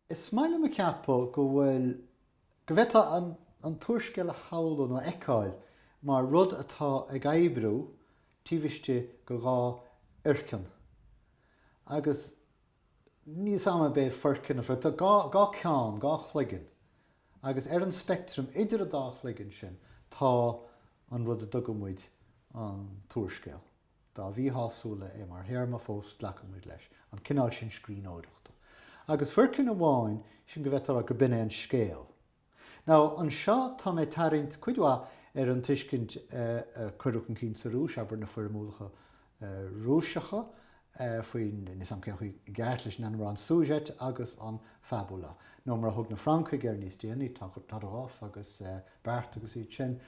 Is maith liom a cheapadh go bhfuil, go bhféadfá an t-úrscéal a shamhlú nó a fheiceáil mar rud atá ag oibriú taobh istigh de dhá fhoirceann. Agus níos am an b'é foirceann a phrioc, tá dhá cheann, dhá chloigeann. Agus ar an speictream idir an dá chloigeann sin tá an rud a dtugann muid an t-úrscéal. Dá mhíshásúla é mar théarma fós glacann muid leis an cineál sin scríbhneoireachta. Agus foirceann amháin, sin go bhfeictear gur b'in é an scéal. Nó anseo tá mé ag tarraingt cuid mhaith ar an tuiscint a cuireadh chun cinn sa Rúis, abair, na foirmiúlaigh Rúiseacha faoin, níos am cén chaoi i gceart leis an ainm a rá, an sujet agus an fabula. Nó mar a thug na Francaigh air níos déanaí, Todorov agus Barthes agus iad sin,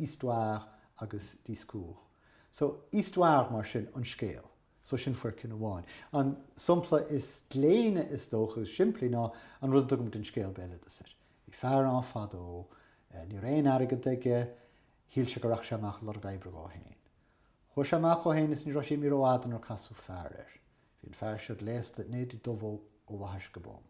histoire agus discours. So, histoire mar sin an scéal. So sin foirceann amháin. An sompla is gléine is dócha agus is simplí ná an rud a dtugann muid an scéal béaloideas air. Bhí fear ann fadó, ní raibh aon airgead aige, shíl sé go rachadh sé amach ag lorg oibre dhó fhéin. Chuaigh sé amach dhó fhéin agus ní raibh sé imithe rófhada nuair casadh fear air. Bhí an fear seo gléasta in éadaí dubha ó bhaithis go bonn.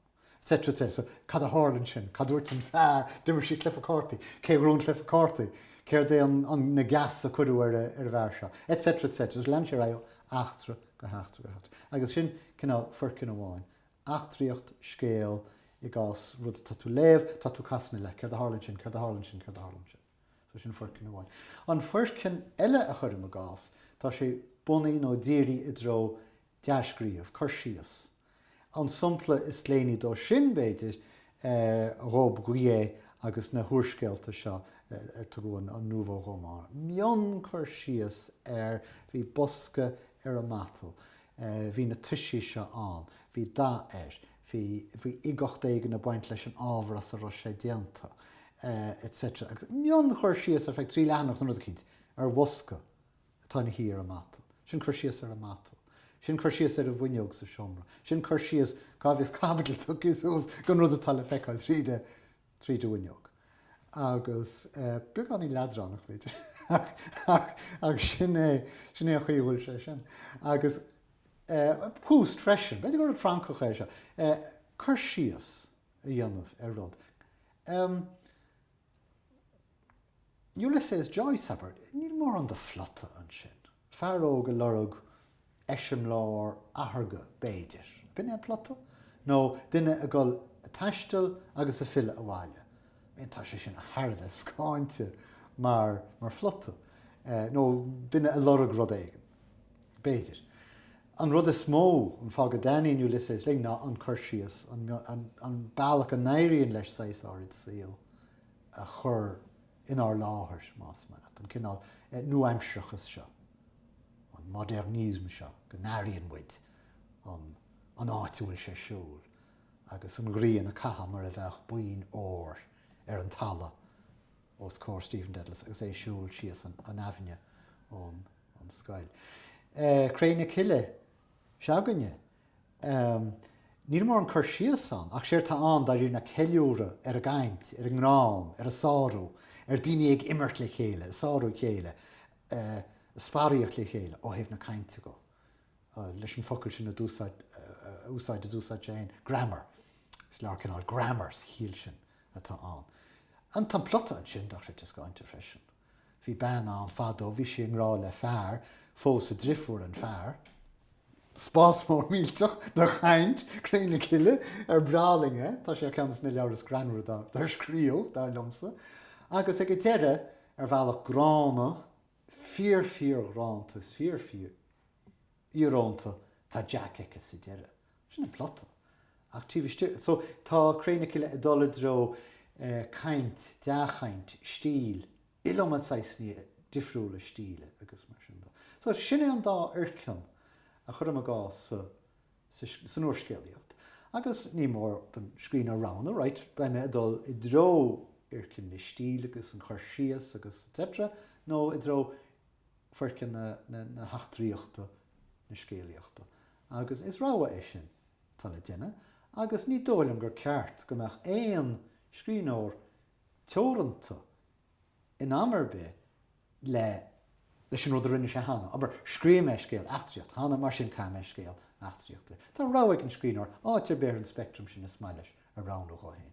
etc. So, cad a tharla ansin? Cad dúirt an fear? D'imir siad cluife cártaí. Cé ghnóthaigh an cluife cártaí? Céard é na geasa a cuireadh ar an bhfear seo? Etc. etc. So lean sé ar aghaidh ó eachtra go heachtra go heachtra. Agus sin cineál foirceann amháin. Eachtraíocht, scéal, i gcás rud atá tú léamh, tá tú casadh na leath. Céard a tharla ansin? Céard a tharla ansin? Céard a tharla ansin? So sin foirceann amháin. An foirceann eile a chuirim i gcás, tá sé bunaithe nó dírithe i dtreo dea-scríobh, cur síos. An sampla is gléiní de sin, b'fhéidir, Robbe-Grillet agus na húrscéalta seo ar tugadh an nouveau roman. Mionchur síos ar, bhí bosca ar an matal, bhí na toisí seo ann, bhí dath air, bhí bhí uigeacht éigin ag baint leis an ábhar as a raibh sé déanta, etc. Agus mionchur síos ar feadh trí leathanach nó rud eicínt, ar bhosca. atá ina shuí ar an matal. Sin cur síos ar an matal. Sin cur síos ar an bhfuinneog sa seomra. Sin cur síos, cá bhfios caibidil tugtha suas don rud atá le feiceáil tríd an, tríd an bhfuinneog. Agus beagáinín leadránach, b'fhéidir, ach, ach sin é, sin é an chaoi a bhfuil sé sin. Agus Proust freisin, b'fhéidir gur rud Francach é seo, cur síos a dhéanamh ar rud. Ulysses Joyce, abair, níl mórán de phlota ansin. Fear óg ag lorg eiseamláir atharga, b'fhéidir. B'in é an plota? Nó duine ag dul ag taisteal agus ag filleadh abhaile? Bhuel, tá sé sin thar a bheith scáinte mar phlota. Nó duine ag lorg rud éigin. B'fhéidir. An rud is mó, an fáth go dtaitníonn Ulysses linn ná an cur síos, an bealach a n-éiríonn leis saghas áirid saoil a chur inár láthair, más mian leat, an cineál nua-aimsearachas seo, an modernism seo, go n-airíonn muid an áit a bhfuil sé ag siúl agus an ghrian ag caitheamh mar a bheadh boinn óir ar an talamh os comhair Stephen Dedalus agus é ag siúl síos an aibhinne ón an scoil. Cré na Cille se'againne. Níl mórán cur síos ann ach séard tá ann dáiríre ná ceiliúradh ar an gcaint, ar an ngreann, ar an sárú, ar daoine ag imirt le chéile, ag sárú a chéile, ag sparaíocht le chéile ó thaobh na cainte dhó. Leis an focal sin a úsáid a d'úsáid sé féin, greannmhar. Is leabhar cineál greannmhar sa chiall sin atá ann. Agus tá an plota ansin dochreidte scáinte freisin. Bhí bean ann fadó bhí sí i ngrá le fear, phós a drifiúr an fear. Spás mór millteach do chaint, Cré na Cille ar breá linne, tá sé ar cheann de na leabhair is greannmhara dár scríobh, dar liomsa, agus ag an deireadh, ar bhealach gránna, fíor-fhíor-rómánsach, is fíor-fhíor-íorónta, tá Jack aici sa deireadh. Sin an plota. Ach taobh istigh, so, tá Cré na Cille ag dul i dtreo caint, dea-chaint, stíl, iliomad saghasanna difriúla stíle agus mar sin de. So, sin é an dá fhoirceann a chuirim i gcás, san úrscéalaíocht. Agus ní mór don scríbhneoir roghnú, right, beidh mé ag dul i dtreo fhoirceann na stíle agus an chur síos agus etc. nó i dtreo foirceann na heachtraíochta, na scéalaíochta. Agus is rogha é sin atá le déanamh. Agus ní dóigh liom gur ceart go mbeadh aon scríbhneoir teoranta in am ar bith le leis an rud a rinne sé cheana. Abair, scríobh mé scéal eachtraíochta cheana, mar sin caithfidh mé scéal eachtraíochta. Tá rogha ag an scríbhneoir áit ar bith ar an speictream sin is maith leis a roghnú dhó féin.